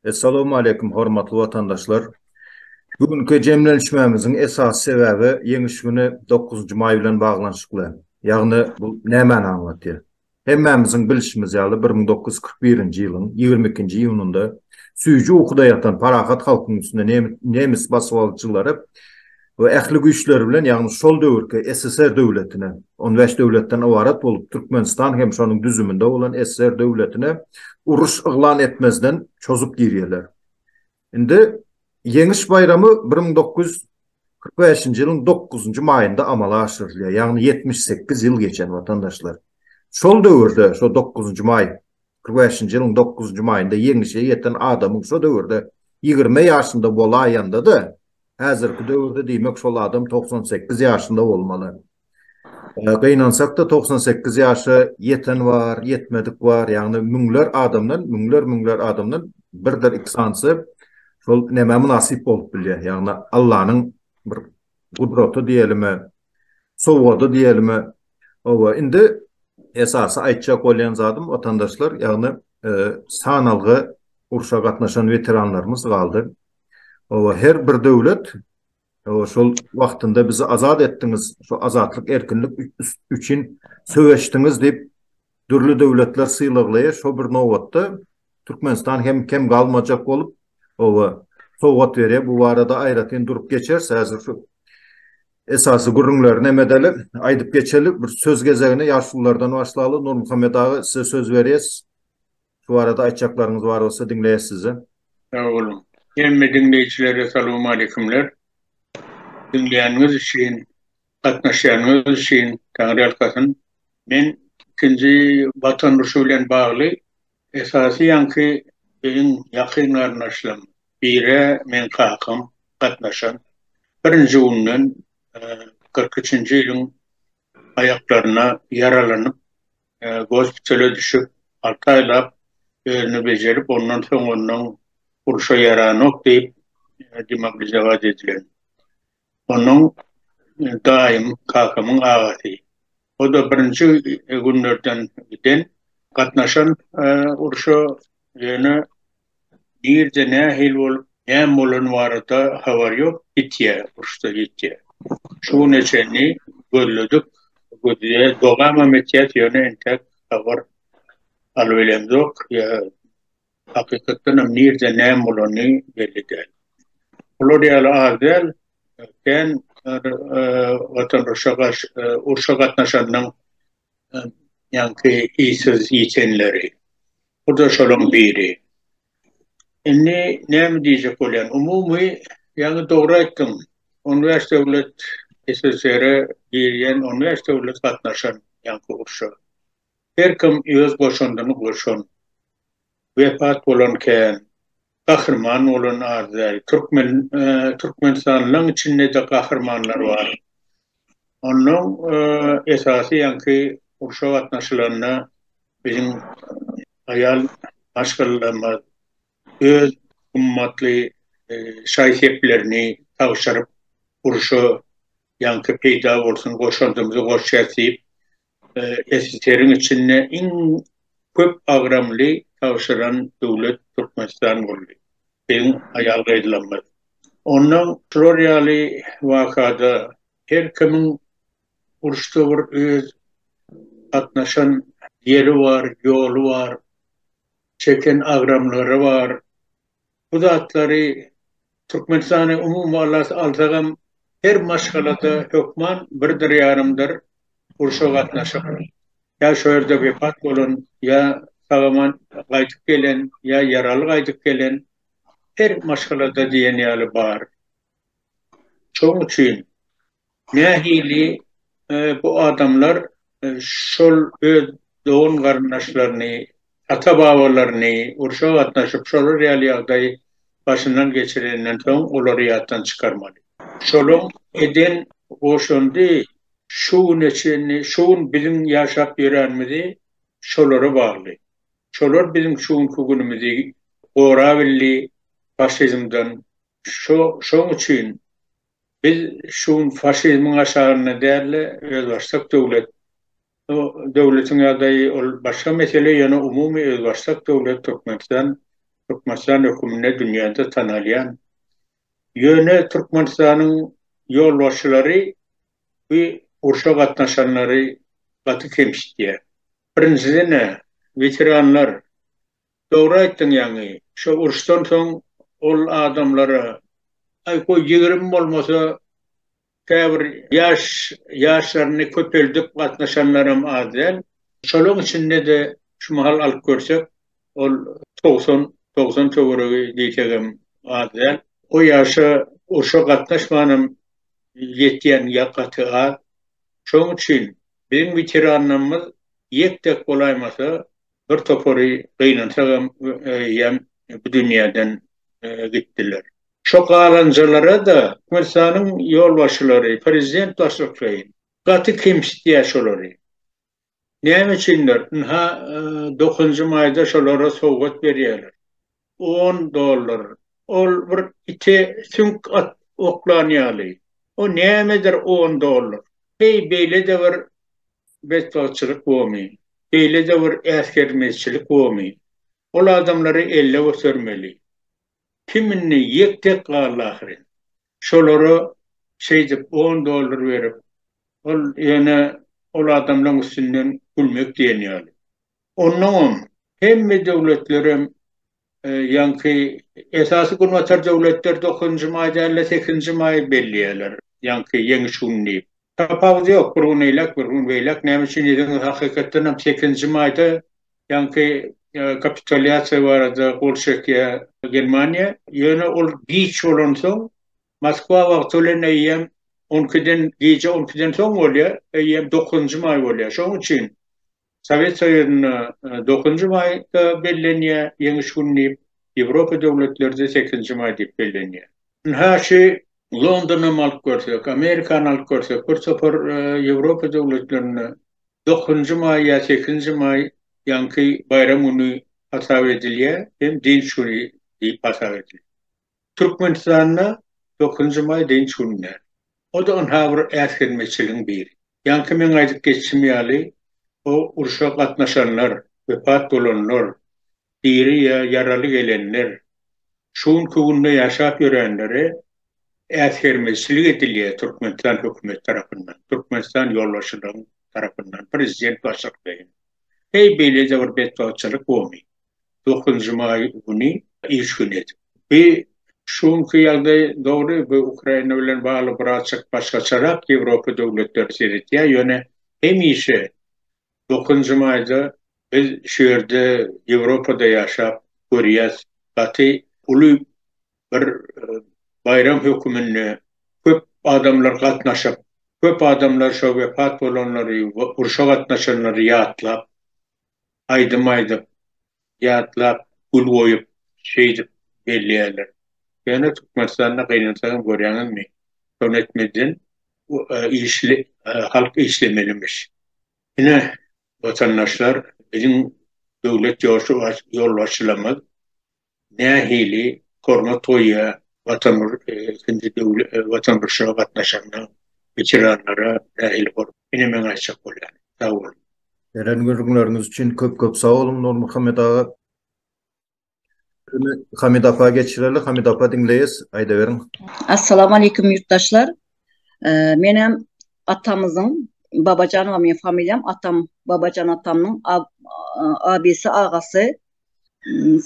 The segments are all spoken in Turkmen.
Essalowmaleýkim hormatly watandaşlar! Bu günki jemlenişmämiziň esasy sebäbi Ýeňiş güni, dokuzynjy maý bilen baglanyşykly. Ýagny bu nämäni aňlatýar? Hemmämiziň bilşimiz ýaly, bir müň dokuz ýüz kyrk birinji ýylyň ýigrimi ikinji iýunynda süýji ukuda ýatan parahat halkyň üstüne nemis basybalyjylary ähli güýçleri bilen, ýagny şol döwürki SSR döwletine, on bäş döwletden ybarat bolup, Türkmenistan hem şonuň düzüminde bolan SSR döwletine uruş yglan etmezden çozup girýärler. Indi Ýeňiş baýramy bir müň dokuz ýüz kyrk bäşinji ýylyň dokuzynjy maýynda amala aşyrylýar, ýagny ýetmiş sekiz ýyl geçen, watandaşlar. Şol döwürde, şo dokuzynjy maý, kyrk bäşinji ýylyň dokuzynjy maýynda Ýeňişe ýeten adamyň şo döwürde ýigrimi ýaşynda bolaýanda-da, häzirki döwürde diýmek şol adam togsan sekiz ýaşynda bolmaly. Gynansak-da, togsan sekiz ýaşa ýeten bar, ýetmedik bar, ýagny müňler adamdan, müňler-müňler adamdan birdir iki sanysy şol nämä mynasyp bolup bilýär, ýagny Allanyň bir gudraty diýelimi, sowgady diýelimi, hawa, indi esasy aýtjak bolýan zadym, watandaşlar, ýagny sanalgy urşa gatnaşan weteranlarymyz galdy. Hawa, her bir döwlet Hawa, şol wagtynda bizi azat etdiňiz, şu azatlyk, erkinlik üçin söweşdiňiz diýip, dürli döwletler sylaglaýar. Şo bir nobatda Türkmenistan hem kem galmajak bolup, hawa, sowgat berýär. Bu barada aýratyn durup geçeris. Häzir şu esasy gürrüňleri näme edeli, aýdyp geçeli. Bir söz gezegini ýaşululardan başlaly. Nurmuhammet aga, size söz berýäs. Şu barada aýtjaklaryňyz bar bolsa diňleýäs sizi. Sag boluň. Hemme diňleýjilere salowmaleýkumler. Diňleýäniňiz üçin, gatnaşýanyňyz üçin Taňryýalkasyn. Men ikinji Watan urşy bilen bagly esasy ýaňky biziň ýakyn garyndaşlarym bire meň kakam gatnaşan. Birinji günden kyrk üçünji ýylyň aýaklaryna ýaralanyp gospitale düşüp, alty aýlap özüni bejerip, ondan soň onuň urşa ýaranok diýip, demobilizować edilen. Onuň daýym, kakamyň agasy. O-da birinji günlerden giden, gatnaşan urşa, ýöne Nirde nähili bolup näme bolany barada habar ýok ýitýä urşda ýitýä. Şu güne çenli gözledik gözleýä dogamam etýäs ýöne entäk habar alybilemzok ýa hakykatdanam nirde näme bolany belli däl. Bular ýaly az däl kän watandaşa garşy urşa gatnaşanyň ýaňky işsiz ýitenleri. Bu-da şolaryň biri. Indi näme diýjek bolýan? Umumy, ýaňy dogry aýtdyň. On bäş döwlet SSR-e girýän, on bäş döwlet gatnaşan ýaňky urşa. Her kim öz goşandyny goşan. Wepat bolan kän, gahryman bolan az däl. Türkmen Türkmenistanlylaň içinde-de gahrymanlar bar. Onnoň esasy ýaňky urşa gatnaşylanda biziň aýal maşgalalarymyz öz gymmatly şaý-seplerini tabşyryp urşa ýaňky peýda bolsun goşandymyzy goşýas diýip SSR-iň içinde iň köp agramly tabşyran döwlet Türkmenistan boldy. Beýiň aýal gaýdylanmaz. Onda şular ýaly wakada her kimiň uruşda bir öz gatnaşan ýeri bar, ýoly bar, çeken agramlary bar. Bu zatlary Türkmenistany umumy alsagam her maşgalada hökman birdir ýarymdyr urşa gatnaşyk, ýa şo ýerde wepat bolan, ýa sagaman gaýdyp gelen, ýa ýaraly gaýdyp gelen her maşgalada diýen ýaly bar. Şoň üçin Nähili bu adamlar şol öz dogan-garyndaşlaryny, ata-babalaryny urşa gatnaşyp, şolar ýaly ýagdaýy başyndan geçirenden soň olary ýatdan çykarmaly. Şolaň eden goşandy şu güne çenli, şu gün biziň ýaşap ýöränimizi şolara bagly. Şolar biziň şu günki günümizi gorabildi faşizmden. Şoň üçin Biz şu gün faşizmiň aşagynda dälde özbaşdak döwlet, bu döwletiň ýagdaýy ol başga mesele ýöne umumy özbaşdak döwlet Türkmenistan, Türkmenistan höküminde dünýäde tanalýan, ýöne Türkmenistanyň ýolbaşçylary bu urşa gatnaşanlary gaty kemsitýär. Birinjiden-ä weteranlar Dogry aýtdyň ýaňy şo uruşdan soň ol adamlara aý goý ýigrimi bolmasa käbir ýaş ýaşlaryny köpeldip gatnaşanlaram az däl. Şolaň içinde-de şu mahal alyp görsek ol togsan togsan töweregi diýsegem az däl. O ýaşa urşa gatnaşmanam ýetýän gaty az. Şoň üçin biziň weteranlarymyz ýek-tek bolaýmasa Bir topary gynansak hem eýýäm bu dünýäden gitdiler. Şo galanjalara-da Türkmenistanyň ýolbaşçylary, prezident başlykleýin gaty kemsitýär şolary. Näme üçindir, ynha, dokuzynjy maýda şolara sowgat berýärler. On dollar, ol bir ite süňk at oklan ýaly. O nämedir on dollar? Heý, beýle-de bir betbagtçylyk bomy, beýle-de bir äsgermezçilik bomy, ol adamlary elle götermeli. Kim indi ýek-tek galdy ahyryn. Şolara şeýdip on dollar berip, ol ýöne ol adamlaň üstünden gülmek diýen ýaly. Onnoňam hemme döwletlerem Ýaňky esasy günbatar döwletler dokuzynjy maý däl-de, sekizinji maýy belleýärler, ýaňky Ýeňiş güni diýip. Tapawudy ýok, bir gün eýläk, bir gün beýläk. Näme üçin diýseňiz, hakykatdan hem sekizinji maýda ýaňky kapitulýasiýa barada gol çekýär Germaniýa. Ýöne ol giç bolansoň, Moskwa wagty bilen eýýäm on ikiden, gije on ikiden soň bolýar, eýýäm dokuzynjy maý bolýar. Şonuň üçin Sowet Soýuzynda dokuzynjy maýda bellenýär, Ýeňiş güni diýip, Ýewropa döwletleride sekizinji maý diýip bellenýär. Ynha, şu Londonam alyp görsek, Amerikany alyp görsek, bir topar Ýewropa döwletlerinde dokuzynjy maý ýa sekizinji maý ýaňky baýram güni hasap edilýär hem dynç güni diýip hasap edilýär. Türkmenistanda dokuzynjy maý dynç güni däl. O-da ynha bir äsgermezçiligiň biri. Ýaňky meň aýdyp geçişim ýaly, o urşa gatnaşanlar, wepat bolanlar, diri ýa ýaraly gelenler, şu günki günde ýaşap ýörenlere äsgermezçilik edilýär Türkmenistan hökümeti tarapyndan, Türkmenistan ýolbaşçylygyň tarapyndan, prezident başlykdaýyn. Heý, beýle-de bir betbagtçylyk bomy? dokuzynjy maý güni iş güni edip. Bi şu günki ýagdaý dogry bu Ukraina bilen bagly birazjyk başgaçarak Ýewropa döwletleri seretýär, ýöne hemişe dokuzynjy maýda biz şu ýerde Ýewropada ýaşap görýäs gaty uly bir baýram höküminde köp adamlar gatnaşyp, köp adamlar şo wepat bolanlary, urşa gatnaşanlary ýatlap aýdym aýdyp, ýatlap, gül goýup, şeýdip belleýärler. Ýöne Türkmenistanda gynansaňam görýäňizmi, şony etmezden işli halk işlemelimiş. Ine, watandaşlar, biziň döwlet ýolbaşçylarymyz nähili hormat goýýar Watanmyr-ikinji döwle Watanmrşa gatnaşanda weteranlara nähili hor ine meň aýtjak bolýanym. Sag boluň. Beren gürrüňleriňiz üçin köp köp sag boluň Nurmuhammet aga. Sözü Hamida apa geçireli. Hamida apa diňleýäs. Aýdaberiň. Assalamu Aleýkum ýurtdaşlar. Menem atamyzyň Babajanowa meň familiýam atam Babajan atamyň abysy agasy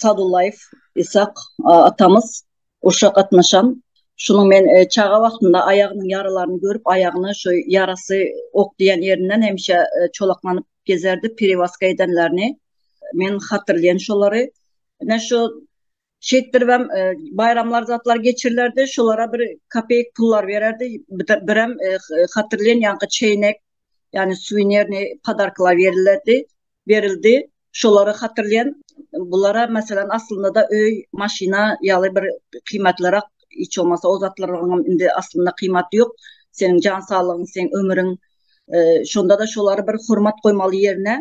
Sadullaýew Ishak atamyz urşa gatnaşan. Şunuň men e, çaga wagtynda aýagynyň ýaralaryny görüp, aýagyny şu ýarasy ok diýen ýerinden hemişe e, çolaklanyp gezerdi, periwaska edenlerini. Men hatyrlaýan şolary. Ine şu şeýtdirip hem e, baýramlar zatlar geçirilerdi, şolara bir kopeýk pullar bererdi. Bir hem e, hatyrlaýan ýaňky çeýnek, ýagny suwenirni podarklar berildi. berildi. Şolary hatyrlaýan bulara meselem aslynda-da öý, maşyna ýaly bir kyýmatlyrak hiç bolmasa o zatlaryňam indi aslynda kyýmaty ýok. Seniň jan saglygyň, seň ömüriň şonda-da şolary bir hormat goýmaly ýerine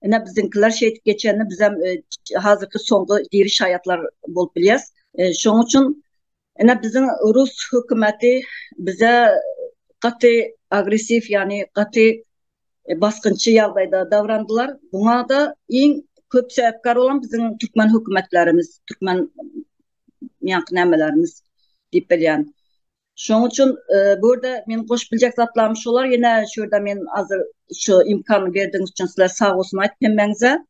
ine biziňkiler şeýdip geçende bizem hazyrky soňky diri şaýatlar bolup bilýäs. Şoň üçin Ine biziň rus hökümeti bize gaty agressiw ýagny gaty basgynçy ýagdaýda dabrandylar. Buňada iň köp sebäpkär bolan biziň türkmen hökümetlerimiz, türkmen ýaňky nämelerimiz diýip bilýän. Şoň üçin bu ýerde men goşup biljek zatlarym şolar ýene şu ýerde men azyr şu imkany berdigiňiz üçin sizler sag bolsun aýdyp hemmäňize.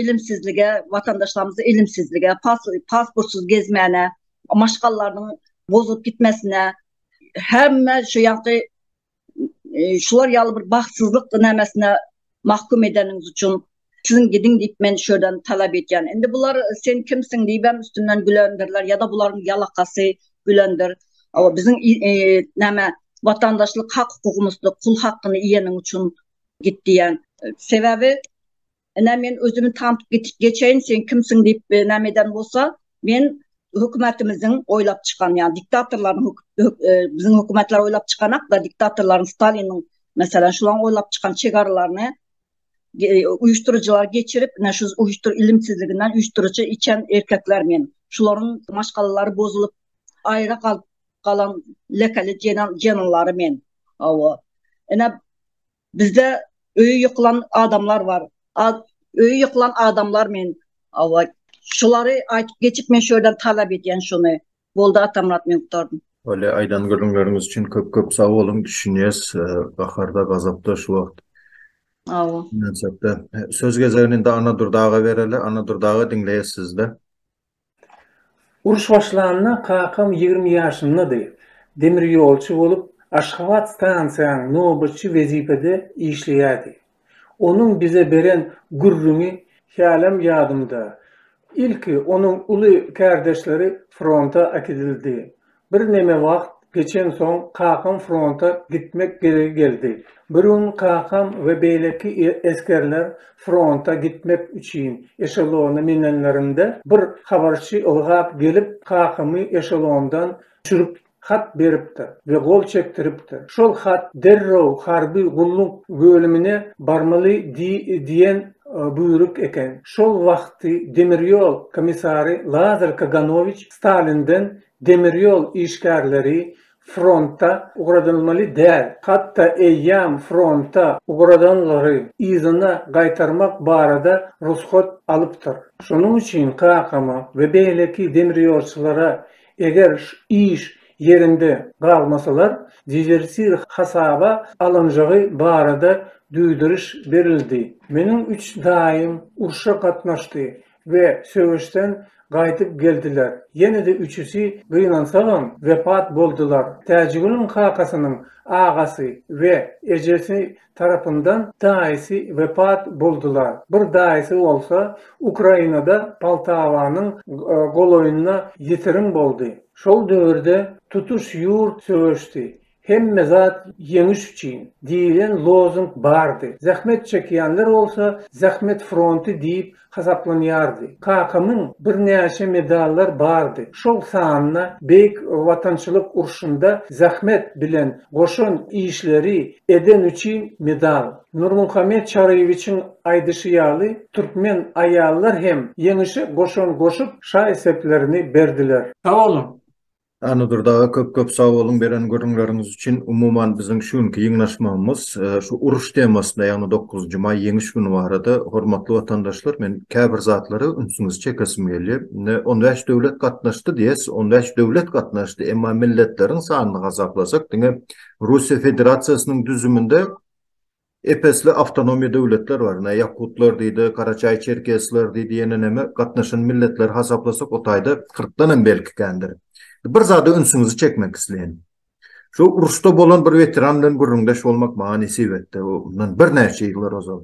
Ilimsizlige, watandaşlarymyzy ilimsizlige, pasportsyz gezmäne, maşgalalarynyň bozulyp gitmesine, hemme şu ýaňky şular ýaly bir bagtsyzlyk nämesine mahkum edeniňiz üçin siziň gidiň diýip men şu ýerden talap edýän. Indi bular sen kimsiň diýibem üstünden gülendirler ýa-da bularyň ýalakasy gülendir. Awa biziň näme watandaşlyk hak-hukugymyzdyr, pul hakyny iýeniň üçin git diýän. Sebäbi Ine men özümi tantyp gitip geçeýin, sen kimsiň diýip e, näme eden bolsa, men hökümetimiziň oýlap çykan, ýa diktatorlaryň e, biziň hökümetler oýlap çykanak da diktatorlaryň Staliniň meselem şularyň oýlap çykan çegaralaryny uyuşturucular geçirip, ne şu uyuştur ilimsizliginden uyuşturucu içen erkekler men. Şuların maşgalaları bozulup, ayrı kal kalan lekeli cenanları men. Ava. Ene Bizde öýi ýykylan adamlar bar. Ad öýi ýykylan adamlar men awa şulary aýtyp geçip men şu ýerden talap edýän şuny. Boldy Atamyrat men gutaradym. Bolýa aýdan gürrüňleriňiz üçin köp köp sag boluň düşünýäs gaharda gazapda şu wagt. Awa. Söz gezegini indi Anadurdaga bereli Anadurdaga diňleýäs sizde. Uruş başlanda kakam ýigrimi ýaşyndady. Demirýolçy bolup, Aşgabat stansiýaň nobatçy wezipede işleýärdi. Onuň bize beren gürrüňi hälem ýadymda. Ilki onuň uly kärdeşleri fronta äkidildi. Birneme wagt geçensoň kakam fronta gitmek geregi geldi. Bir gün kakam we beýleki esgerler fronta gitmek üçin eşelona minenlerinde, bir habarçy ylgap gelip, kakamy eşelondan düşürip, hat beripdir we gol çekdiripdir. Şol hat derrew harby gulluk bölümine barmaly diýen buýruk eken. Şol wagty demirýol komissary Lazar Kaganowiç Stalinden Demir ýol işgärleri fronta ugradylmaly däl, hatda eýýäm fronta ugradanlary yzyna gaýtarmak barada rugsat alypdyr. Şonuň üçin kakama we beýleki demirýolçylara eger iş ýerinde galmasalar, dezertir hasaba alynjagy barada duýduryş berildi. Meniň üç daýym urşa gatnaşdy we söweşden gaýdyp geldiler. Ýene-de üçüsi gynansagam wepat boldular. Täjigulyň kakasynyň agasy we ejesi tarapyndan daýysy wepat boldular. Bir daýysy bolsa Ukrainada Poltawanyň golaýynda ýitirim boldy. Şol döwürde tutuş ýurt söweşdi. Hemme zat ýeňiş üçin! diýlen lozung bardy. Zähmet çekýänler bolsa Zähmet fronty diýip hasaplanýardy. Kakamyň birnäçe medallar bardy. Şol sanda Beýik Watançylyk urşunda zähmet bilen goşan işleri eden üçin medal. Nurmuhammet Çaryýewiçiň aýdyşy ýaly, türkmen aýallar hem ýeňişe goşan goşup şaý-seplerini berdiler. Sag boluň! Annadur daga köp köp sag boluň beren gürrüňleriňiz üçin. Umuman biziň şu günki ýygnaşmagymyz şu uruş temasyna ýagny dokuzynjy maý ýeňiş güni barada hormatly watandaşlar men käbir zatlara ünsüňizi çekesim gelýär. Indi on bäş döwlet gatnaşdy diýes on bäş döwlet gatnaşdy emma milletleriň sanyny hasaplasak diňe Russiýa Federasiýasynyň düzüminde Epesli awtonomiýa döwletler bar. Ine, ýakutlar diýdi, garaçaý-çerkesler diýdi, ýene näme, gatnaşan milletleri hasaplasak, o taýda kyrkdan hem belki kändir. Bir zada ünsüňizi çekmek isleýän. Şu uruşda bolan bir weteran bilen gürrüňdeş bolmak maňa nesip etdi, o mundan birnäçe ýyllar ozal.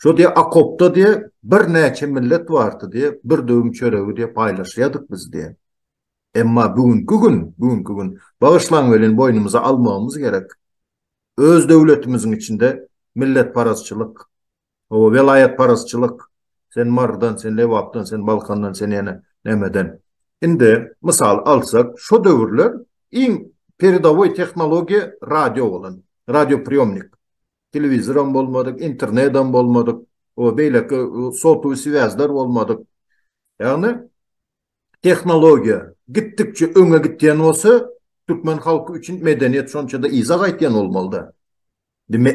Şo diýýär, okopda diýýär, birnäçe millet bardy diýýär, bir döwüm çöregi diýýär paýlaşýardyk biz diýýär. Emma bu günki gün, bu günki gün, bagyşlaň welin, boýnumyza almagymyz gerek. Öz döwletimiziň içinde milletparazçylyk, hawa, welaýatparazçylyk, sen Marydan, sen Lebapdan, sen Balkandan, sen ýene nämeden. Indi, mysal alsak, şo döwürler iň peredowoý tehnologiýa radio bolan, radiopriýomnik. Telewizoram bolmadyk, internedam bolmadyk, o, beýleki sotowý swýazlar bolmadyk. Ýagny, Tehnologiýa gitdikçe öňe gitýän bolsa, türkmen halky üçin medeniýet şonça-da yza gaýtýan bolmalyda.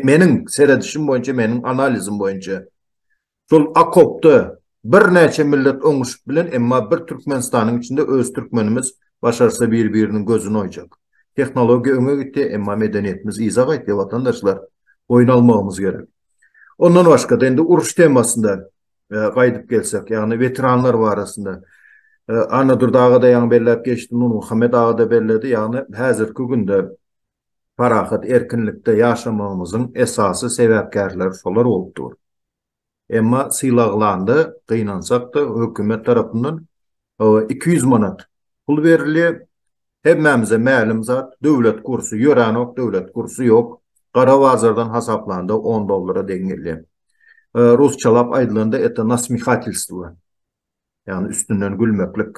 Meniň seredişim boýunça, meniň analizim boýunça, şol okopda birnäçe millet oňuşyp bilen, emma bir Türkmenistanyň içinde öz türkmenimiz başarsa bir-biriniň gözüni oýjak. Tehnologiýa öňe gitýär, emma medeniýetimiz yza gaýtýar watandaşlar. Boýun almagymyz gerek. Ondan başga-da indi uruş temasynda gaýdyp gelsek, ýagny weteranlar barasynda Annadur aga-da ýaňy belläp geçdi, Nurmuhammet aga-da belledi, ýagny häzirki günde parahat, erkinlikde ýaşamagymyzyň esasy sebäpkärleri şolar bolup dur. Emma sylaglanda, gynansak-da, hökümet tarapyndan iki ýüz manat pul berilýär, Hemmämize mälim zat, döwlet kursy ýöränok, döwlet kursy ýok. Gara bazardan hasaplanda on dollara deň gelýär. Rusçalap aýdylanda eta nasmihatelstwo. Ýagny üstünden gülmeklik.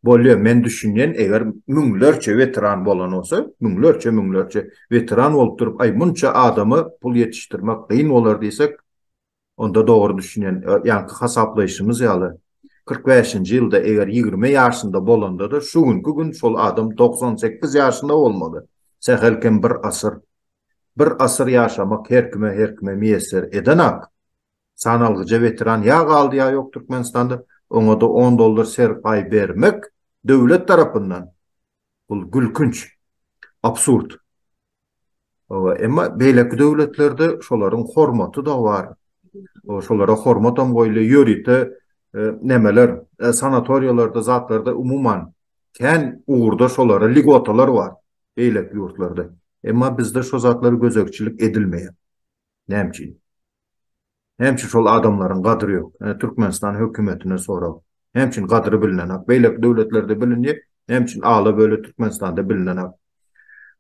Bolýa, men düşünýän, eger müňlerçe weteran bolan bolsa, müňlerçe, müňlerçe weteran bolup durup, aý munça adama pul ýetişdirmek kyn bolar diýsek, Onda dogry düşünen, ýaňky hasaplaýşymyz ýaly, kyrk bäşinji ýylda eger ýigrimi ýaşynda bolanda-da, şu günki gün şol adam togsan sekiz ýaşynda bolmaly. Sähel kem bir asyr. Bir asyr ýaşamak her kime, her kime miýesser edenak. Sanalgyja weteran ýa galdy, ýa ýok Türkmenistanda. Oňa-da on dollar serpaý bermek döwlet tarapyndan, bul gülkünç, absurd. Hawa, emma beýleki döwletlerde şolaryň hormaty da bar. Şolara hormatam goýulýar. Ýörite nämeler, sanatoriýalarda, zatlarda umuman kän ugurda şolara ligotalar bar beýleki ýurtlarda. Emma bizde şo zatlar gözegçilik edilmeýär. Näme üçin? Hemçe şol adamlaryň gadyry ýok. Ine Türkmenistan hökümetine sorag. Hemçin gadyry bilinenak. Beýleki döwletlerde bilinýär. Hemçin ala böle Türkmenistanda bilinenak.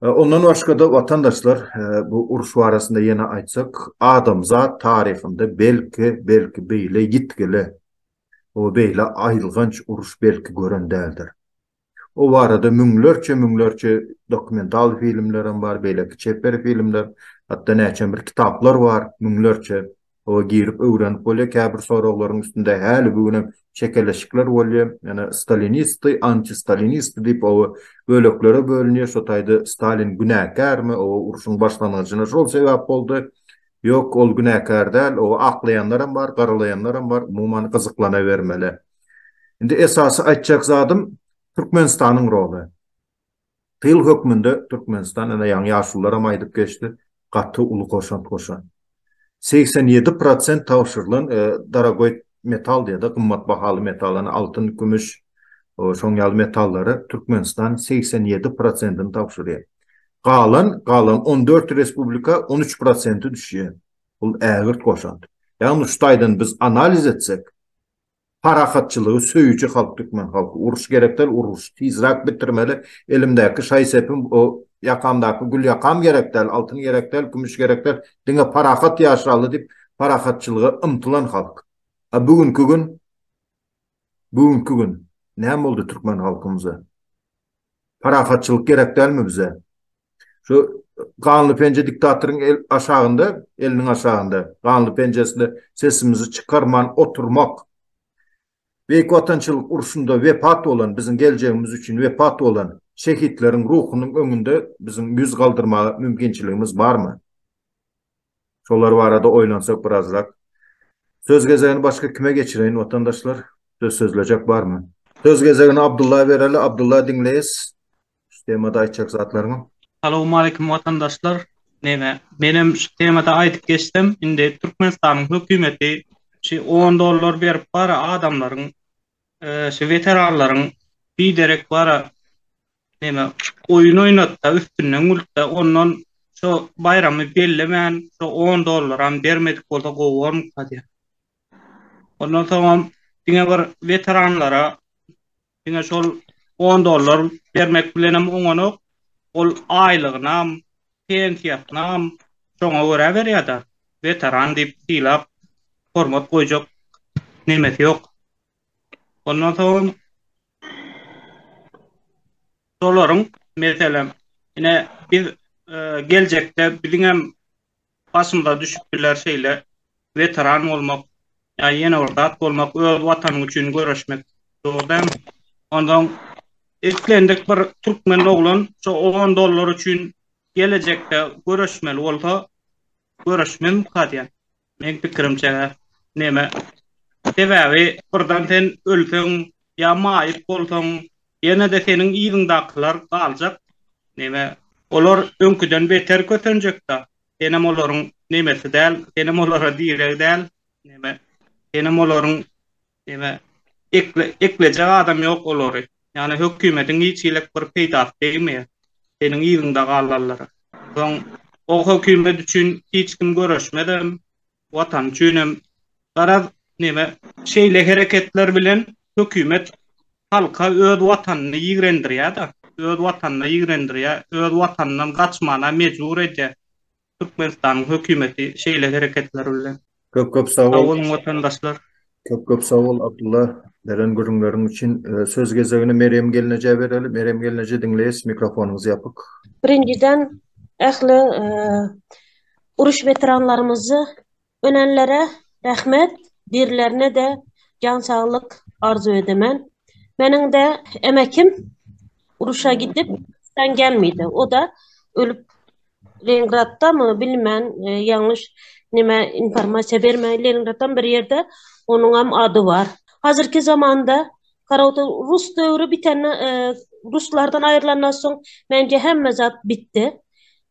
Ondan başga-da watandaşlar bu uruş barasynda ýene aýtsak, adamzat taryhynda belki, belki beýle ýitgili we beýle aýylganç uruş belki gören däldir. O barada müňlerçe müňlerçe dokumental filmler hem bar, beýleki çeper filmler, hatda näçem bir kitaplar bar, müňlerçe. Oba girip öwrenip bolýar, käbir soraglaryň üstünde häli bu günem çekeleşikler bolýar. Ýöne stalinistdi, antistalinistdi diýip oba böleklere bölünýär. Şo taýda Stalin günäkärmi, oba urşuň başlangyjyna şol sebäp boldy. Ýok, ol günäkär däl, oba aklaýanlar hem bar, garalaýanlar hem bar, umuman gyzyklanabermeli. Indi esasy aýtjak zadym Türkmenistanyň roly. Tyl hökmünde Türkmenistan, ine ýaňy ýaşulularam aýdyp geçdi, gaty uly goşant goşan. Segsen ýedi prosent tabşyrylan dorogoý metal diýer-de, gymmat bahaly metal, ine altyn, kümüş, şoň ýaly metallary Türkmenistan segsen ýedi prosentini tabşyrýar. Galan, galan on dört respublika on üç prosenti düşýär. Bul ägirt goşant. Ýagny şu taýdan biz analiz etsek, Parahatçylygy söýüji halk Türkmen halky uruş gerek däl uruşy tizräk bitirmeli elimdäki şaý sepim o ýakamdaky gül ýakam gerek däl altyn gerek däl kümüş gerek däl diňe parahat ýaşaly diýip parahatçylyga ymtylan halk a bu günki gün bu günki gün näme boldy Türkmen halkymyza. Parahatçylyk gerek dälmi bize? Şu ganly penje diktatoryň el aşagynda, eliniň aşagynda, ganly penjesinde sesimizi çykarman oturmak. Beýik Watançylyk urşunda wepat bolan, biziň geljegimiz üçin wepat bolan şehitleriň ruhunyň öňünde biziň ýüz galdyrmaga mümkinçiligimiz barmy? Şolar barada oýlansak birazrak. Söz gezegini başga kime geçireýin watandaşlar? Söz sözlejek barmy? Söz gezegini Abdulla bereli. Abdulla diňleýäs. Şu temada aýtjak zatlaryňy. Salowmaleýkim watandaşlar. Neme, menem şu temada aýdyp geçsem, indi Türkmenistanyň hökümeti şu on dollar berip bara adamlaryň, şu weteranlaryň biderek bara Neme oýun oýnatda üstünden gültde ondan şo baýramy bellemän şo on dollaram bermedik bolsa gowy bormyka diýýän. Ondan soňam diňe bir weteranlara diňe şol on dollar bermek bilenem oňanok ol aýlygynam pensiýasynam şoňa görä berýärda weteran diýip sylap hormat goýjak nemesi ýok ondan soňam Şolaryň, meselem, ine, biz geljekde biziň hem başymyza düşüp biler şeýle weteran bolmak, ýa ýene bir zat bolmak, öz Watanyň üçin göreşmek, dogry dälmi? Onsoň, islendik bir türkmen oglan şo on dollar üçin gelejekde göreşmeli bolsa, göreşmezmika diýýän. Meň pikirimçe neme sebäbi birden sen ölseň ýa maýyp bolsaň ýenede seniň yzyňdakylar galjak neme olar öňküden beter kösenjekda senem olaryň nemesi däl senem olara direg däl neme senem olaryň Ýöne ekle, eklejek adam ýok olary. Ýöne hökümetiň hiç hili bir peýdasy degmeýär seniň yzyňda galanlara. Soň o hökümet üçin hiç kim göreşmezem, Watan üçinem. Garaz, neme, şeýle hereketler bilen hökümet halka öz Watanyny ýigrendirýär-de, öz Watanyna ýigrendirýär, öz Watanyndan gaçmana mejbur edýär. Türkmenistanyň hökümeti şeýle hereketler bilen. Köp köp sag bol. Sag boluň watandaşlar. Köp köp sag bol Abdylla beren gürrüňleriň üçin. Söz gezegini Merýem gelnejä bereli. Merýem gelneje diňleýis mikrofonyňyz ýapyk. Birinjiden ähli uruş weteranlarymyzy. Önenlere rahmet birlerine de jan saglyk arzuw edemen meniň de emekim uruşa gidip sen gelmeydi o da ölüp lengratda mı bilmen yanlış nime informasiya berme lengratdan bir yerde onuňam ady bar hazirki zamanda karauta rus döwri bitende ruslardan ayrlandan soň mence hemme zat bitdi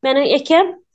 meniň ekem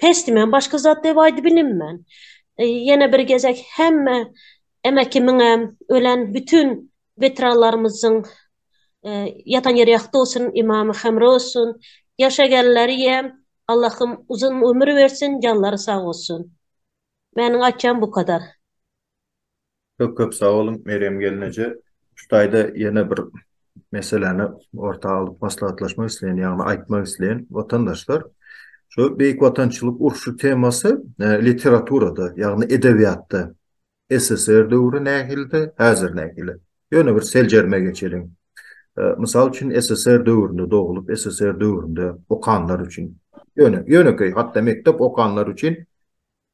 Pesdimen başga zat dep aýdybilinmen. Ýene bir gezek hemme Emäkimiňem, ölen bütin weteranlarymyzyň ýatan ýeri ýagty bolsun, imamy hemra bolsun. Ýaşagenleriem Allahym uzyn ömür bersin, janlary sag bolsun. Meniň aýtjagyň bu kadar. Köp köp sag boluň Merýem gelin eje. Şu taýda ýene bir meseläni orta alyp maslahatlaşmak isleýän, ýagny aýtmak isleýän watandaşlar. Şu Beýik Watançylyk urşy temasy literaturada, ýagny edebiýatda SSR döwri nähildi, häzir nähili? Ýöne bir seljerme geçeliň. Mysal üçin SSR döwründe doglup, SSR döwründe okanlar üçin. Ýöne ýönekeý hatda mekdep okanlar üçin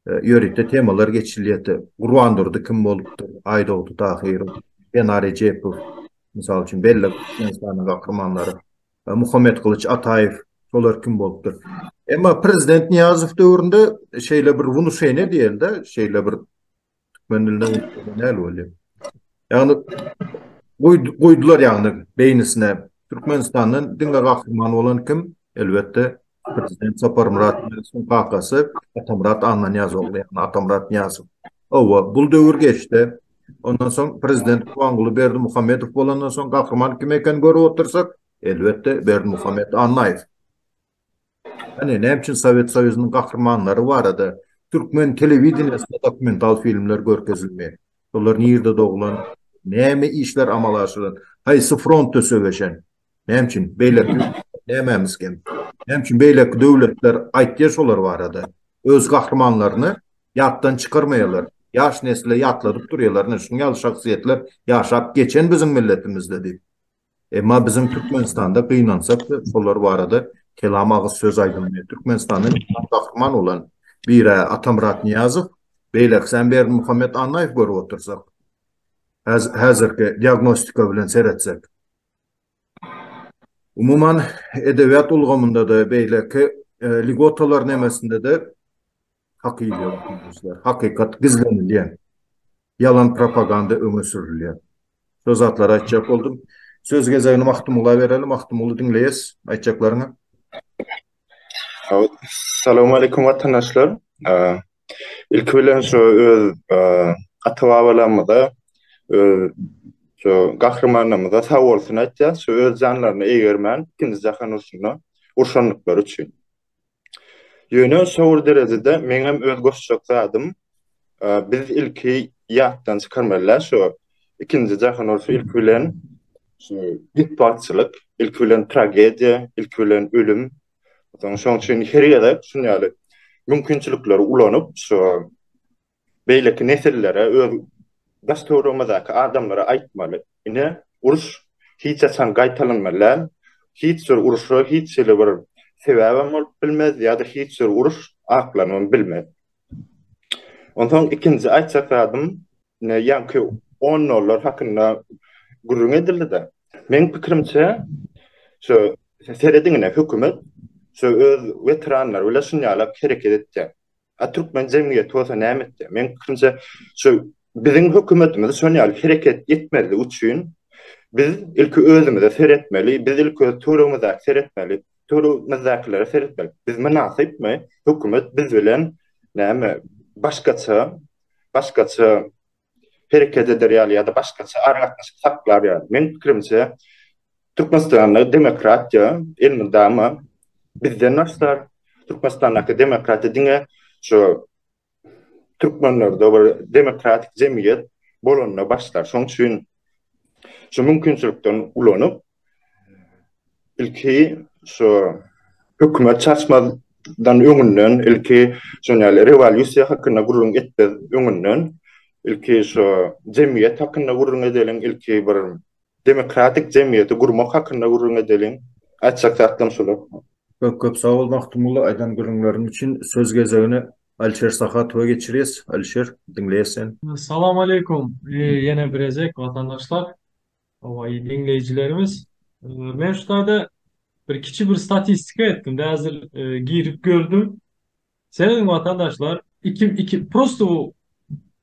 Ýörite temalar geçilýärdi. Gurbandurdy kim bolupdyr, Aýdogdy Tahyrow, Sena Rejepow, mysal üçin, belli Türkmenistanyň gahrymanlary, Muhammetgylyç Ataýew, şolar kim bolupdyr. Emma prezident Nyýazow döwründe şeýle bir wnušeniýe diýeli-de, şeýle bir Türkmen dilinde unutulan näl bolýar? Ýagny goýdular ýagny beýnisine Türkmenistandan diňe gahryman bolan kim? Elbetde prezident Saparmyrat Nyýazowyň kakasy Atamyrat Annanyýaz ogly ýagny Atamyrat Nyýazow. Hawa, bul döwür geçdi. Ondan soň prezident Gurbanguly Berdimuhamedow bolandan soň gahryman kim ekeni görüp otyrsak, elbetde Berdimuhamet Annaýew. Hany, näme üçin Sowet Soýuzynyň gahrymanlary barada türkmen telewideniýesinde dokumental filmler görkezilmeýär? Olar nirde doglan, näme işler amala aşyran, haýsy frontda söweşen? Näme üçin? Beýleki ýurtlar nämämiz kem? Näme üçin beýleki döwletler aýtýar şolar barada? Öz gahrymanlaryny ýatdan çykarmaýarlar. Ýaş nesle ýatladyp durýarlar, ine, şunuň ýaly şahsyýetler ýaşap geçen biziň milletimizde diýip. Emma biziň Türkmenistanda gynansak da olar barada kelam agyz söz aýdylmaýar. Türkmenistanda Mekan Gahryman bolan bir-ä Atamyrat Nyýazow, beýlekisem Berdimuhamet Annaýew görüp otursak, häzirki diagnostika bilen seretsek. Umuman edebiýat ulgamynda-da beýleki lýugotalar nemesinde-de Hakyýylyk gizlişler, hakykat gizlenilýär. Ýalan propaganda öňe sürülýär. Şo zatlary aýtjak boldum. Söz gezegini Magtymgula bereli. Magtymguly diňleýäs aýtjaklaryňy. Salam aleýkum watandaşlar. Ilki bilen şo öz ata-babalarymyza, öz şo gahrymanlarymyza sag bolsun aýtýas, şo öz janlaryny eýgermän, ikinji jahan urşunda urşandyklary üçin. Ýöne şour derejede meňem öz goşjak zadym biz ilki ýatdan çykarmalyda şu ikinji jahan urşy ilki bilen şu betbagtçylyk ilki bilen tragediýa ilki bilen ölüm soň şoň üçin her ýerde şun ýaly mümkinçilikleri ulanyp şu Beýleki nesillere öz daş-töweregimizdäki adamlara aýtmaly, ine, uruş hiç haçan gaýtalanmazlär, hiç bir uruşa hiç hili bir sebäbem bolup bilmez ýa-da hiç bir uruş aklanybam bilmez. Onsoň ikinji aýtjak zadym, ine, ýaňky on dollar hakynda gürrüň edildi-de, meň pikirimçe, şu serediň ine, hökümet şu öz weteranlary bilen şuny ýalak hereket etýär. A türkmen jemgyýeti bolsa näme etdi? Meň pikirimçe, şu biziň hökümetimiz şol ýaly hereket etmezlik üçin biz ilki özümize seretmeli, biz ilki öz töweregimize seretmeli, töweregimizdäkilere seretmeli. Biz mynasypmy? Hökümet biz bilen näme başgaça başgaça hereket eder ýaly ýa-da başgaça aragatnaşyk saklar ýaly. Meň pikirimçe, Türkmenistanda demokratiýa elmydama bizden başlar. Türkmenistandaky demokratiýa diňe şu türkmenlerde bir demokratik jemgyýet bolanda başlar. Şonuň üçin şu mümkinçilikden ulanyp, Ilki şu hökümet çaşmadan öňünden, ilki şun ýaly rewolýusiýa hakynda gürrüň etmez öňünden, ilki şu jemgyýet hakynda gürrüň edeliň, ilki bir demokratik jemgyýeti gurmak hakynda gürrüň edeliň. Aýtjak zatlarym şular. Köp köp sag bol Magtymgulla aýdan gürrüňleriň üçin. Söz gezegini Alişer Sahatowa geçirýäs. Alişer, diňleýäs seni. Salam aleýkum ýene bir gezek watandaşlar. Hawa, eý diňleýjilerimiz, men şu taýda bir kiçi bir statistika etdim-de, häzir girip gördüm. Seredin watandaşlar, iki, iki, prosto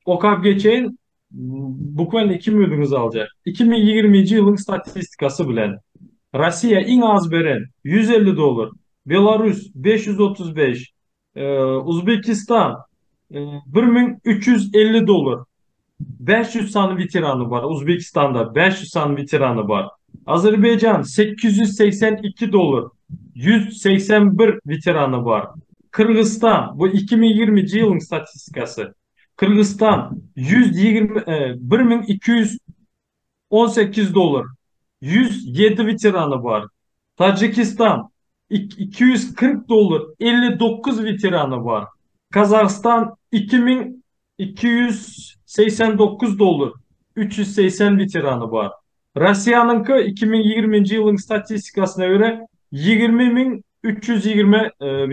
okap geçeýin, bukwen iki minutiňizi aljak. Iki müň ýigriminji ýylyň statistikasy bilen, Rossiýa iň az beren, ýüz elli dollar, Belarus, beş ýüz otuz bes, Uzbekistan bir müň üç ýüz elli dollar. Bäş ýüz sany weterany bar. Uzbekistanda bäş ýüz sany weterany bar. Azerbaýjan sekiz ýüz segsen iki dollar. Ýüz segsen bir weterany bar. Kyrgyzstan, bu iki müň ýigriminji ýylyň statistikasy. Kyrgyzstan ýüz ýigrimi bir müň iki ýüz on sekiz dolar, ýüz ýedi weterany bar. Tajikistan, iki ýüz kyrk dolar, elli dokuz weterany bar. Gazagystan, iki müň iki ýüz segsen dokuz dolar, üç ýüz segsen weterany bar. Russiýanyňky, iki müň ýigriminji ýylyň statistikasyna görä, ýigrimi müň üç ýüz ýigrimi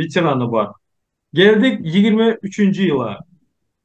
weterany bar. Geldik ýigrimi üçünji ýyla.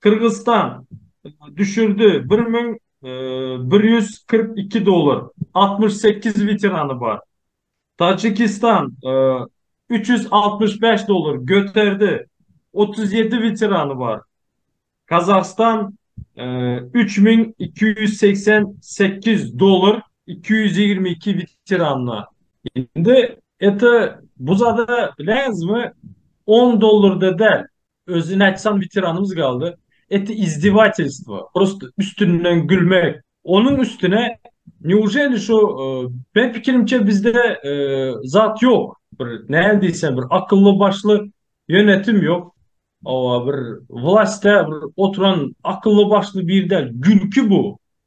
Kyrgyzystan düşürdi bir müň bir ýüz kyrk iki dollar, altmyş sekiz weterany bar. Tajikistan üç ýüz altmyş bäş dollar göterdi, otuz ýedi weterany bar. Kazahstan üç müň iki ýüz segsen sekiz dollar, iki ýüz ýigrimi iki weteranyna. Indi, ete, bu zada läzmi on dollarda däl, Özüni aýtsaň weteranymyz galdy. Eti izdevatelstvo. Prosta üstünden gülmek. Onuň üstüne neujeli şu e, ben pikirimçe bizde e, zat ýok. Bir näme diýsem bir akylly başly ýönetim ýok. Owa bir wlasta bir oturan akylly başly bir däl. Gülki bu.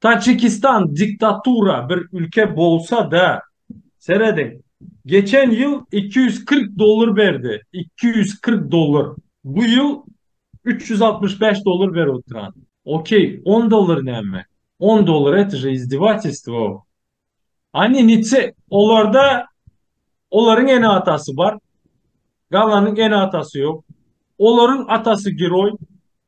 Taçikistan diktatura bir ülke bolsa da serediň geçen ýyl iki ýüz kyrk dollar berdi iki ýüz kyrk dollar bu ýyl üç ýüz altmyş bäş dollar berip oturan ok on dollar näme on dollar et je izdevatelstwo ani niçe olarda olaryň ene atasy bar galanyň ene atasy ýok olaryň atasy geroý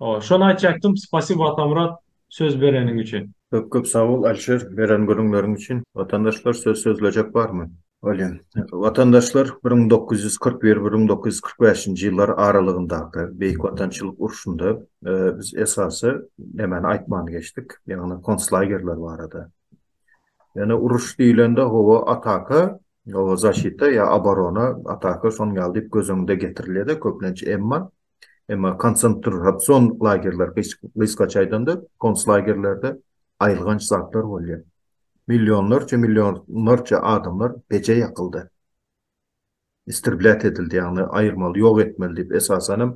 Hoo şony aýtjakdym spasibo Atamyrat söz bereniň üçin. Köp köp sag bol Alişer beren gürrüňleriň üçin. Watandaşlar söz sözlejek barmy? Bolýa. Watandaşlar bir müň dokuz ýüz kyrk bir, bir müň dokuz ýüz kyrk bäşinji ýyllar aralygyndaky Beýik Watançylyk urşunda biz esasy nämäni aýtman geçdik? Ýagny konslagerler barada. Ýöne uruş diýlende hawa ataka, hawa zaşita ýa abarona, ataka şoň ýaly diýip göz öňünde getirilýärde köplenç emma Emma konsentrasion lagerler gysgaça aýdanda konslagerlerde aýylganç zatlar bolýar. Millionlarça millionlarça adamlar peje ýakyldy. Istrblýat edildi ýagny aýyrmaly ýok etmeli diýip esasanam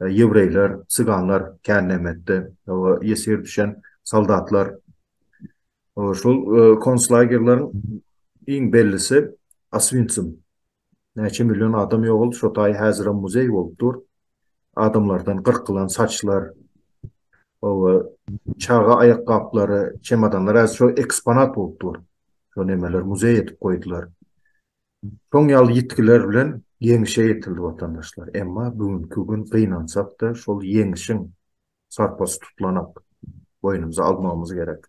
ýewreýler, syganlar kän näme etdi we ýesir düşen soldatlar şol konslagerleriň iň bellisi Aswinsim. Näçe million adam ýogaldy, şo taý häzirem muzeý bolup dur. Adamlardan gyrkylan saçlar, oba çaga aýakgaplary, çemodanlar häzir şo eksponat bolup dur. Şo nemeler muzeý edip goýdular. Şoň ýaly ýitgiler bilen ýeňişe ýetildi watandaşlar. Emma bu günki gün gynansak-da şol ýeňişiň sarpasy tutulanak boýnumyza almagymyz gerek.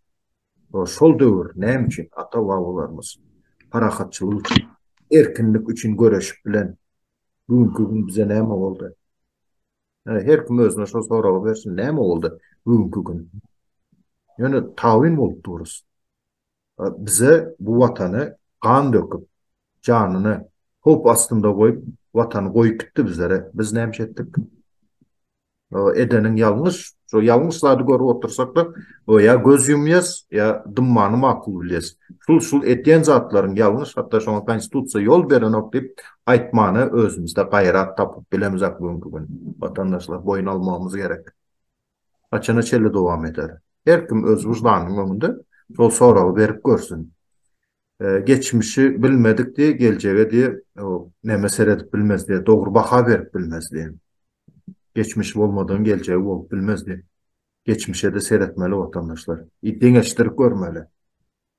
O şol döwür näme üçin ata-babalarymyz parahatçylyk üçin, erkinlik üçin göreşip bilen bu günki gün bize näme boldy? Yani her kim özüne şol soragy bersin, näme boldy bu günki gün? Ýöne tawin bolup durus. Bize bu watany gan döküp, janyny howp astynda goýup, watany goýup gitdi bizlere. Biz näme etdik? edeniň ýalňyş, şo ýalňyş zady görüp otursakda, o ýa göz ýumýas, ýa dymmany makul bilýäs. Şul şul edýän zatlaryň ýalňyş, hatda şoňa konstitusiýa ýol berenok diýip aýtmana özümizde gaýrat tapyp bilemizok bugünki gün. Watandaşlar boýun almagymyz gerek. Haçana çenli dowam eder? Her kim öz wyždanynyň öňünde şol soragy berip görsün. Geçmişi bilmedik diýip, geljege diýip, näme seredip bilmez diýip, dogry baha berip bilmez diýip. Geçmiş bolmadan geljegi bolup bilmez diýip. Geçmişe-de seretmeli watandaşlar. Ýa deňeşdirip görmeli.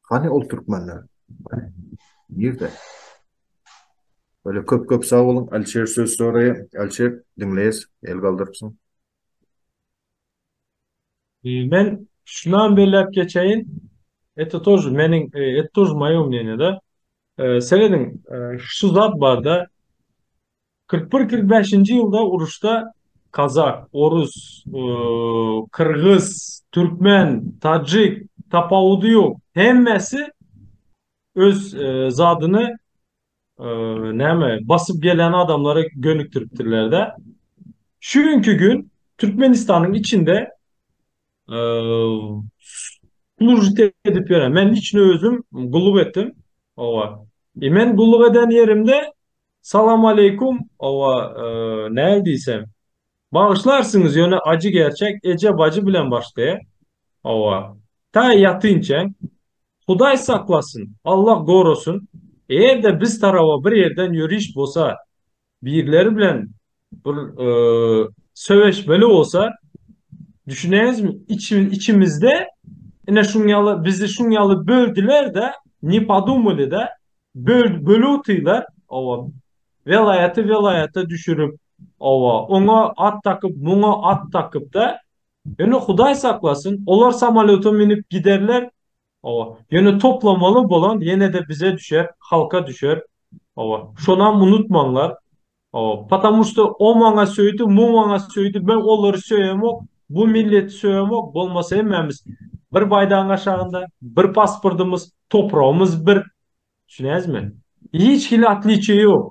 Hany ol türkmenler? Nirde? Öle köp köp sag boluň. Alişer söz soraýa. Alişer diňleýäs. El galdyrypsyň. Men şunam belläp geçeýin, Eto tož meniň, et tož moýo mneniýada. Serediň, şu zat barda, kyrk bir, kyrk bäşinji ýylda uruşda kazak, orus, kyrgyz, türkmen, tajik, tapawudy ýok, hemmesi öz zadyny näme basyp gelen adamlara gönükdiripdirler-de. Şu günki gün Türkmenistanyň içinde slujit edip ýören. Men içine özüm gulluk etdim. Owa. E men gulluk eden ýerimde salam aleykum, owa, näme diýsem, Bagyşlarsyňyz ýöne ajy gerçek eje bajy bilen başlaýar hawa tä ýatynçäň Hudaý saklasyn Allah gorasyn egerde biz taraba bir ýerden ýöriş bosa birleri bilen bir söweşmeli bosa düşüneňizmi içimizde ine şuň ýaly bizi şuň ýaly böldilerde ne podumali da bölüp otylar hawa welaýaty welaýata düşürip Hawa, oňa at dakyp, muňa at dakyp-da. Ýöne Hudaý saklasyn, olar samolýota münüp giderler. Hawa, ýöne toplamaly bolan ýene-de bize düşer, halka düşer. Hawa, şonam unutmaňlar. Hawa, patamu şto o maňa söýdi, mu maňa söýdi, men olary söýemok, bu milleti söýemok, bolmasa hemmämiz bir baýdagyň aşagynda, bir pasportymyz, topragymyz bir. Düşünýäňizmi? Hiç hili otliçiýe ýok.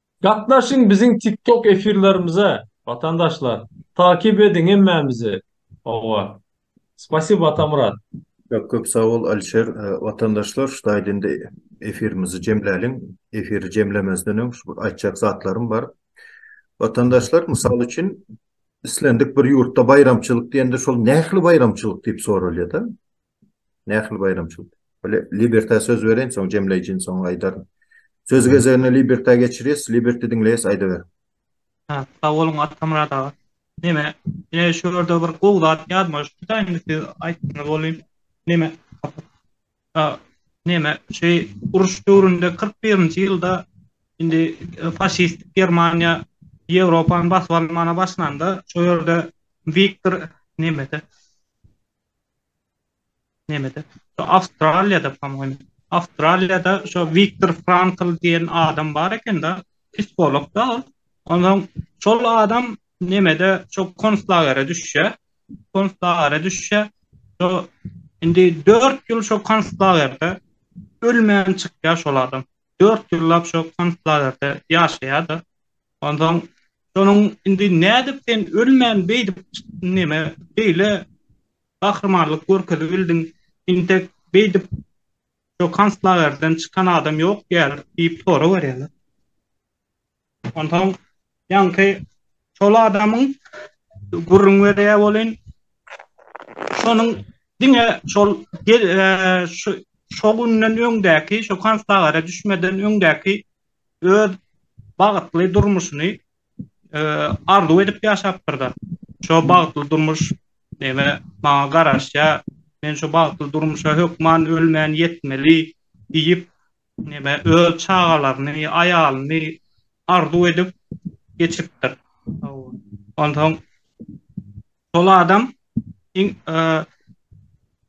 Gatnaşyň biziň TikTok efirlerimize watandaşlar takyp ediň hemmämizi oňa Spasibo Atamyrat. Köp köp sag bol Alişer. Watandaşlar şu taýda indi efirimizi jemläliň. Efiri jemlemezden öň şu bir aýtjak zatlarym bar. Watandaşlar mysal üçin islendik bir ýurtda baýramçylyk diýende şol nähli baýramçylyk diýip soralýada. Nähili baýramçylyk? Bile, Liberta söz bereýin, soň jemleýjini soň aýdaryn. Sözi gezegine Liberta geçirýäs, Liberty diňleýäs, aýdaber. Hä, sag boluň Atamyrat aga. Neme, ine şu ýerde bir gowy zat ýazmalyşypdyda indi siz aýtdyňyz welin, neme, a, neme, şeý uruş döwründe kyrk birinji ýylda indi faşistik Germaniýa Ýewropany basyp almana başlanda, şo ýerde Wiktor, nemede, Nämede? Şu Awstraliýada, po-moýmy, Awstraliýada şu Wiktor Frankl diýen adam bar eken-de, psiholog-da ol. Onsoň şol adam nämede, şo konslagere düşýär. Konslagere düşýär. Şo indi dört ýyl şo konslagerde ölmän çykýar şol adam. Dört ýyllap şo konslagerde ýaşaýar-da. Onsoň şonuň indi nädip sen ölmän beýdip neme beýle gahrymanlyk görkezibildiň, intek beýdip şo konslagerden çykan adam ýok diýýärler diýip sorag berýärler. Onsoň ýaňky şol adamyň gürrüň berýär welin, şonuň diňe şol şo günden öňdäki, şo konslagere düşmeden öňdäki öz bagtly durmuşyny arzuw edip ýaşapdyr-da. Şo bagtly durmuş näme maňa garaşýar, men şo bagtly durmuşa hökman ölmän ýetmeli diýip, näme öz çagalaryny, aýalyny arzuw edip geçipdir. Onsoň Şol adam iň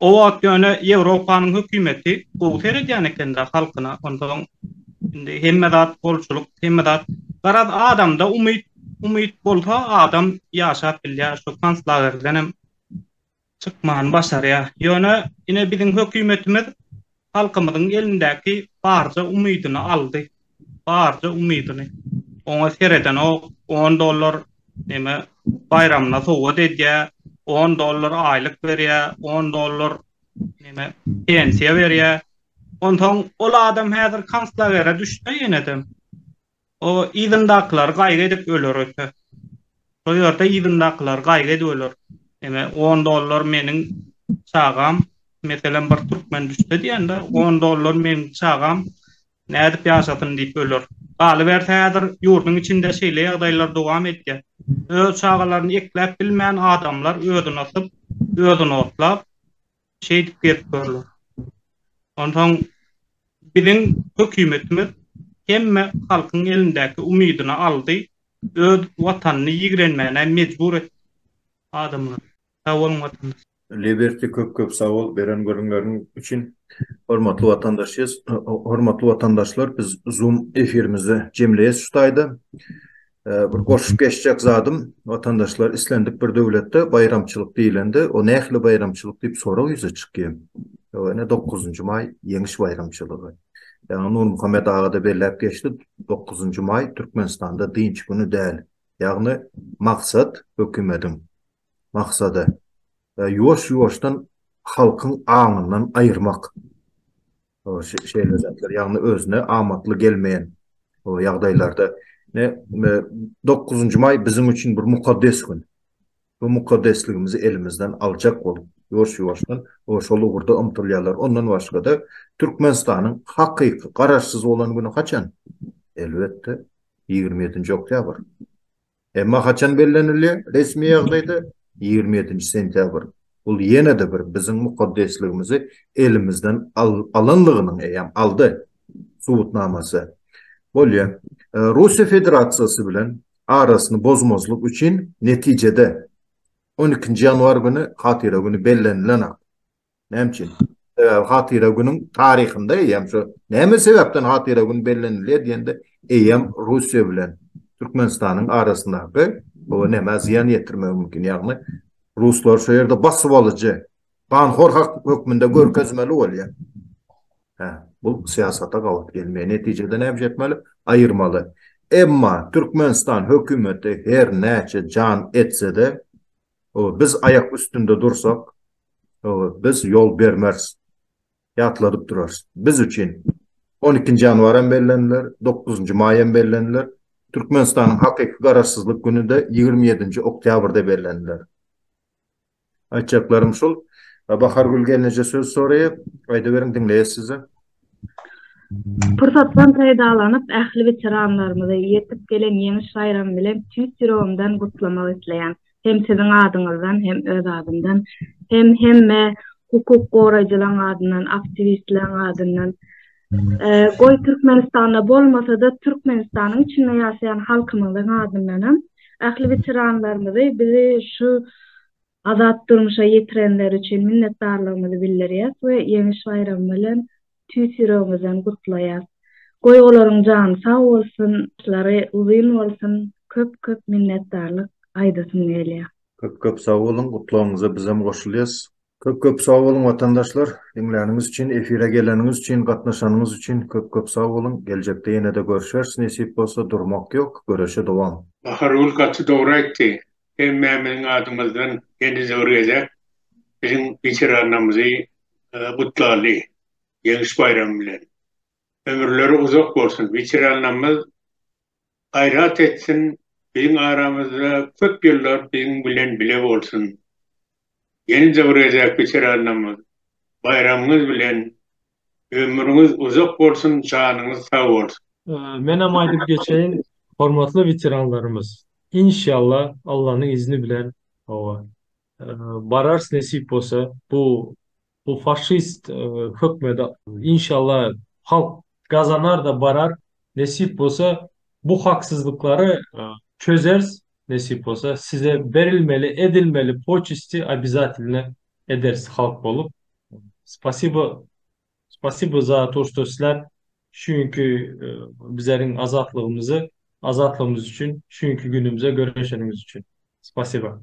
O wagt ýöne Ýewropanyň hökümeti gowy seredýän ekendä halkyna, onsoň indi hemme zat bolçulyk, hemme zat. Garaz, adamda umyt, umyt bolsa adam ýaşap bilýär, şu konslagerdenem çykmany başarýar. Ýöne ine biziň hökümetimiz Halkymyzyň elindäki barja umydyny aldy. Barja umydyny. Oňa seredenok, on dollar neme baýramyna sowgat edýä, on dollar aýlyk berýä, on dollar neme pensiýa berýä. Onsoň ol adam häzir konslagere düşse ýenedem, O yzyndakylar gaýgy edip öler öte. Şo ýerde yzyndakylar gaýgy edip öler. Eme, on dollar meniň çagam, meselem, bir türkmen düşse diýende, on dollar meniň çagam nädip ýaşasyn diýip öler. Galyberse, häzir ýurduň içinde şeýle ýagdaýlar dowam edýär. Öz çagalaryny ekläp bilmän adamlar özüni asyp, özüni otlap, Şeýdip gezip görler. Onsoň biziň hökümetimiz hemme halkyň elindäki umydyny aldy, öz watanyny ýigrenmäne mejbur etdi adamlary. Sag boluň watandaş. Liberty köp köp sag bol beren gürrüňleriň üçin. Hormatly watandaşys hormatly watandaşlar biz zoom efirimizde jemleýäs şu taýda Bir goşup geçjek zadym, watandaşlar islendik bir döwletde baýramçylyk diýlende, o nähili baýramçylyk diýip sorag ýüze çykýar. Ýa ine dokuzynjy maý Ýeňiş baýramçylygy. Ýa Nurmuhammet aga-da belläp geçdi, dokuzynjy maý Türkmenistanda dynç güni däl. Ýagny maksat hökümediň maksady ýuwaş-ýuwaşdan halkyň aňyndan aýyrmak. şeýle zatlar, ýagny özüne amatly gelmeýän ýagdaýlarda dokuzynjy maý biziň üçin bir mukaddes gün. Bu mukaddesligimizi elimizden aljak bolup, ýuwaş-ýuwaşdan şol ugurda ymtylýarlar. Ondan başga-da, Türkmenistanyň hakyky Garaşsyz bolan güni haçan? Elbetde, ýigrimi ýedinji oktýabr. Emma haçan bellenilýär resmi ýagdaýda? Ýigrimi ýedinji sentýabr. Bul ýene-de bir biziň mukaddesligimizi elimizden alanlygynyň eýýäm aldy subutnamasy. Bolýa. Russiýa Federasiýasy bilen arasyny bozmazlyk üçin netijede on ikinji ýanwar güni hatyra güni bellenilenak. Näme üçin? Sebäbi hatyra günüň taryhynda eýýäm şu näme sebäpden hatyra gün bellenilýär diýende eýýäm Russiýa bilen Türkmenistanyň arasyndaky bu nämä zyýan ýetirmegi mümkin. Ýagny ruslar şu ýerde basyp alyjy, ganhor hökmünde görkezmeli bolýar. Hä, bu syýasata gabat gelmeýär. Netijede näme etmeli? Aýyrmaly. Emma Türkmenistan hökümeti her näçe jan etse-de, Biz aýak üstünde dursak, biz ýol bermeris, ýatladyp durarys. Biz üçin on ikinji ýanwar hem belleniler, dokuz njy maý hem belleniler, Türkmenistanyň hakyky Garaşsyzlyk güni-de ýigrimi ýedinji oktýabrda belleniler. Aýtjaklarym şul. Bahargül gelneje söz soraýar. Aýdyberiň, diňleýäs sizi. Pursatdan peýdalanyp, ähli weteranlarymyzy ýetip gelen Ýeňiş baýramy bilen tüýs ýüregimden gutlamak isleýän hem siziň adyňyzdan, hem öz adymdan, hem hemme hukuk goraýjylaryň adyndan, aktiwistleriň adyndan. Goý, Türkmenistanda bolmasa-da, Türkmenistanyň içinde ýaşaýan halkymyzyň adyndanam ähli weteranlarymyzy bizi şu Azat durmuşa ýetirenleri üçin minnetdarlygymyzy bildirýäs we Ýeňiş baýramy bilen tüýs ýüregimizden gutlaýas. Goý olaryň jany sag bolsun, başlary uzyn bolsun, köp köp minnetdarlyk aýdasym gelýär. Köp köp sag boluň, gutlagyňyza bizem goşulýas. Köp köp sag boluň watandaşlar, diňläniňiz üçin, efire geleniňiz üçin, gatnaşanyňyz üçin köp köp sag boluň, geljekde ýenede görşeris nesip bolsa, durmak ýok, göreşe dowam. Bahargül gaty dogry aýtdy. Emmä biziň adymyzdan heniz bir gezek biziň weteranlarymyzy gutlarly Ýeňiş baýramy bilen. Ömürleri uzak bolsun, weteranlarymyz gaýrat etsin, biziň aramyzda köp ýyllar biziň bilen bile bolsun. Ýene-de bir gezek weteranlarymyz baýramyňyz bilen Ömrüňiz uzak bolsun janyňyz sag bolsun. Menem aýdyp geçeýin hormatly weteranlarymyz inşalla Allanyň izni bilen hawa bararys nesip bolsa bu bu faşist hökmede inşalla halk gazanarda barar nesip bolsa bu haksyzlyklary çözeris nesip bolsa size berilmeli edilmeli poçesti obizatelne ederis halk bolup spasibo spasibo za to što sizler şu günki bizleriň azatlygymyzy azatlygymyz üçin şu günki günümize göreşeniňiz üçin spasibo.